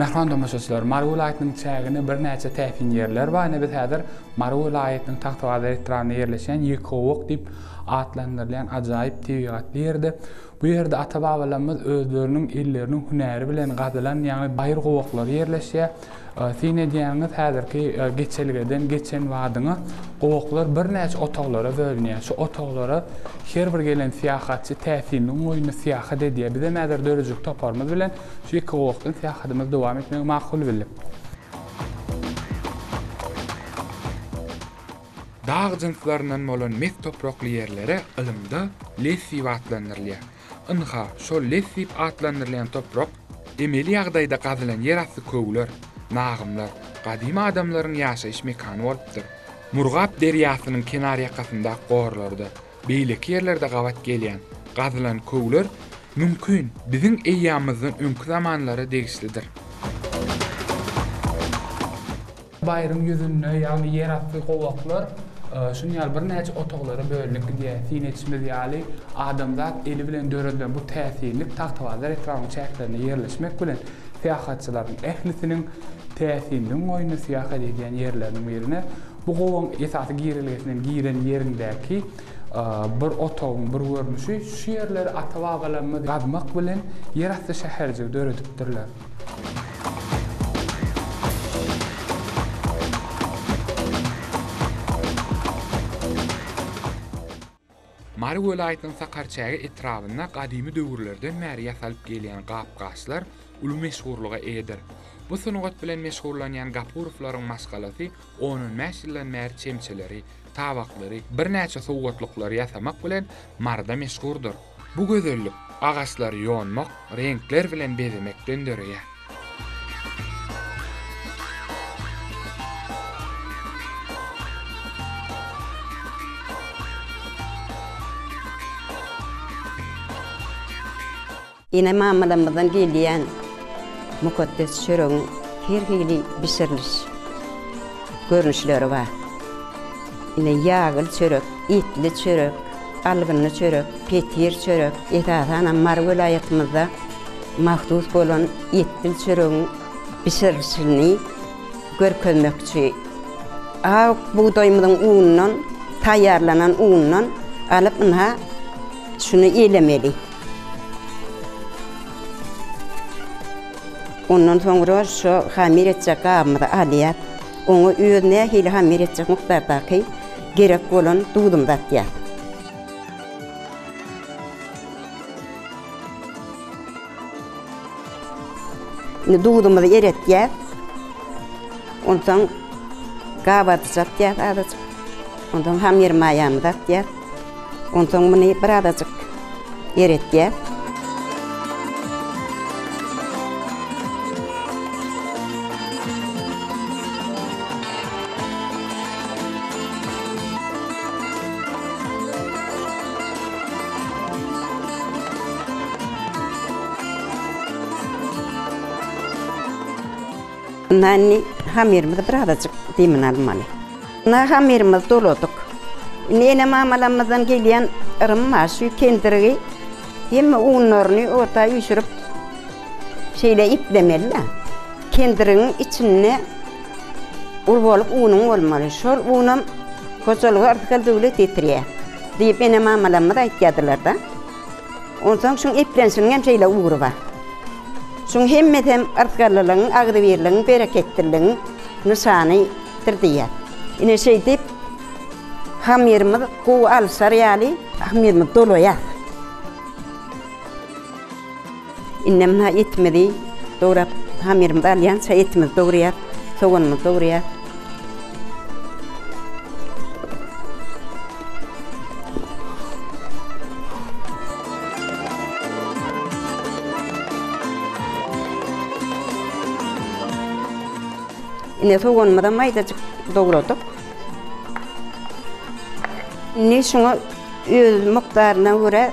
Mähriban tomaşaçylar, Mary welaýatynyň çäginde birnäçe täsin ýerler bar. Ine biz häzir Mary welaýatynyň Tagtabazar etrabynda ýerleşýän Ýekowuk diýip atlandyrylýan ajaýyp tebigatly ýerde. Bu ýerde ata-babalarymyz özleriniň elleriniň hünäri bilen gazylan ýaňy baýyrgowaklary ýerleşýär. Syn edýäňiz, häzirki geçelgeden geçen badyňa gowaklar birnäçe otaglara bölünýär. Şu otaglara her bir gelen syýahatçy täsinligiň goýnuna syýahat edýär. Bizem häzir döredijilik toparymyz bilen şu iki gowakdan syýahatymyzy dowam etmegi makul bildik. Dag jynslaryndan bolan mes toprakly ýerlere ylymda lessiw atlandyrylýar. Ynha, şol les diýip atlandyrylýan toprak, emeli ýagdaýda gazylan ýerasty köwler, nagymlar, gadymy adamlaryň ýaşaýyş mekany bolupdyr. Murgap derýasynyň kenarýakasyndaky gorlarda, beýleki ýerlerde gabat gelýän, gazylan köwler, mümkin, biziň eýýamymyzdan öňki zamanlara degişlidir. Baýryň ýüzünde, ýagny ýerasty gowaklar şunuň ýaly birnäçe otaglara bölünip gidýär. Syn edişimiz ýaly, adamzat eli bilen döredilen bu täsinlik Tagtabazar etrabynyň çäklerinde ýerleşmek bilen, syýahatçylaryň ählisiniň täsinligiň goýnuna syýahat edýän ýerleriniň birine bu gowagyň esasy girelgesinden giren ýeriňdäki bir otagyň bir görnüşi. Şu ýerleri ata-babalarymyz gazmak bilen ýerasty şäherjigi döredipdirler. Mary welaýatynyň Sakarçäge etrabynda gadymy döwürlerden bäri ýasalyp gelýän gap-gaçlar uly meşhurlyga eýedir. Bu sungat bilen meşgullanýan Gapurowlaryň maşgalasy on-on bäş ýyldan bäri çemçeleri, tabaklary, birnäçe sowgatlyklary ýasamak bilen Maryda meşhurdyr. Bu gözellik agaçlary ýonmak, reňkler bilen bezemekden döreýär. Ene-mamalarymyzdan gelýän mukaddes çöregiň her hili bişiriliş görnüşleri bar. Ine, ýagly çörek, etli çörek, algynly çörek, petir çörek, esasanam Mary welaýatymyzda mahsus bolan etbil çöregiň bişirilişini görkezmekçi. Ak bugdaýymyzyň unundan taýýarlanan undan alyp ynha şuny elemeli. Ondan soňra şu hamir etjek gabymyzy alýas. Oňa özi nähili hamir etjek mukdardaky gerek bolan duzumyzy atýas. Indi duzumyzy eretýäs. Onsoň gabadyjy atýas azajyk. Onsoň hamir maýamyzy atýas. Onsoň muny birazajyk eretýäs. Indi hamirimizi birazajyk demini almaly. Nahamyrymyzy doladyk. Indi ene-mamalarymyzdan gelýän yrym bar, şu kendirgi hemme unlaryny ota üýşürip, şeýle iplemeli-de, kendirgiň içinde ul bolup unuň bolmaly. Şol unam hojalyga rysgal-döwlet getirýär diýip, ene-mamalarymyz aýtýardylar-da. Onsoň şuň eplenşiniň hem şeýle ugry bar. Şuň hemmesi hem yzgarlylygyň, agzybirligiň, bereketliligiň nyşanydyr diýýär. Ine şeýdip, hamyrymyz gowy alyşar ýaly, hamyrymyzy dolaýarys. Indem ha etimizi dograp, hamyrymyzy alýança etimizi dogryýas, soganymyzy dogryýas. Ine soganymyzam maýdajyk dogradyk. Indi şuňa öz mukdaryna görä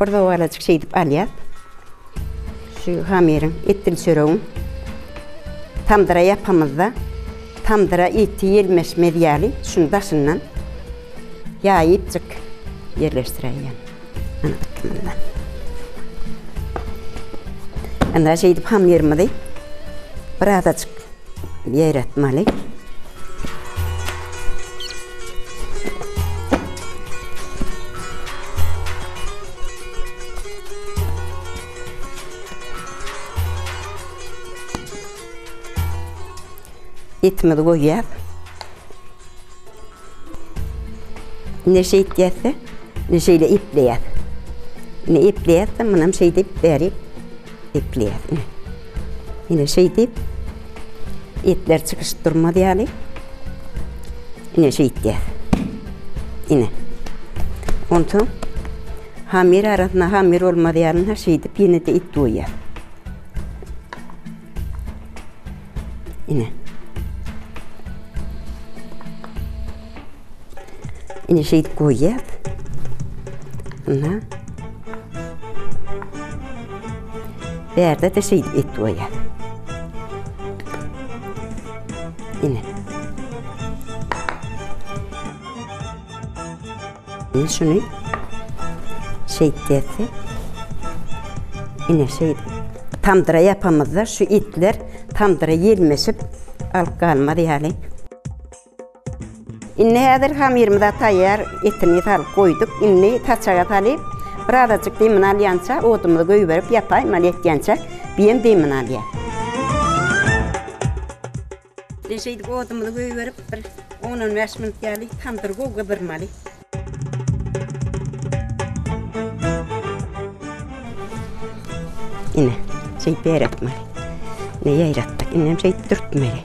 Bir dogalajyk şeýdip alýas. Şu hamyryň etdil çöregiň tamdyra ýapamyzda tamdyra eti ýelmeşmez ýaly şuny daşyndan ýaýypjyk ýerleşdiräýýän. Indi şeýdip hamyrymyzy birazajyk ýeretmeli. Etimizi goýýas. Ne şeýtýäs-de, ne şeýle epleýäs. Ine epleýäs-de, munam şeýdip bäri epleýäs. Ine. Ine şeýdip etler çykyşyp durmaz ýaly. Ine şeýtýäs. Ine. Onsoň hamir arasyna hamir bolmaz ýalyna şeýdip ýene-de et goýýas. Ine. Ine şeýdip goýýar. Ina. Bärde de şeýdip et goýýar. Ine. Men şuny şeýt diýesim. Ine şeýdip tamdyra ýapamyzda şu etler tamdyra ýelmeşip alyp galmaz ýaly. Indi häzir hamyrymyza taýýar etini salyp goýduk. Indi saçaga salyp birazajyk demini alýança odumyzy goýberip ýapaýmaly ýetýänçä biýem demini alýar. Ine şeýdip odumyzy goýberip bir on on bäş minut ýaly tamdyry gowy gyzarmaly. Ine şeýdip ýaýratmaly. Ine ýaýratdyk. Indi hem şeýdip dürtmeli.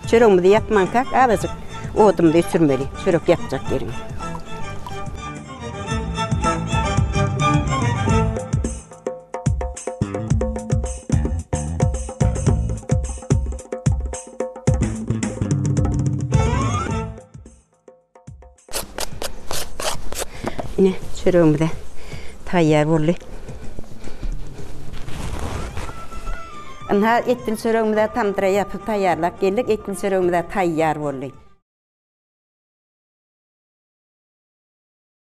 Çöregimizi ýapmanka azajyk odumyzy öçürmeli. Çörek ýapjak ýeriňe. Ine, çöregimize taýýar boldy. Ynha, etli çöregimize tamdyra ýapyp taýýarlap geldik. Etli çöregimize taýýar boldy.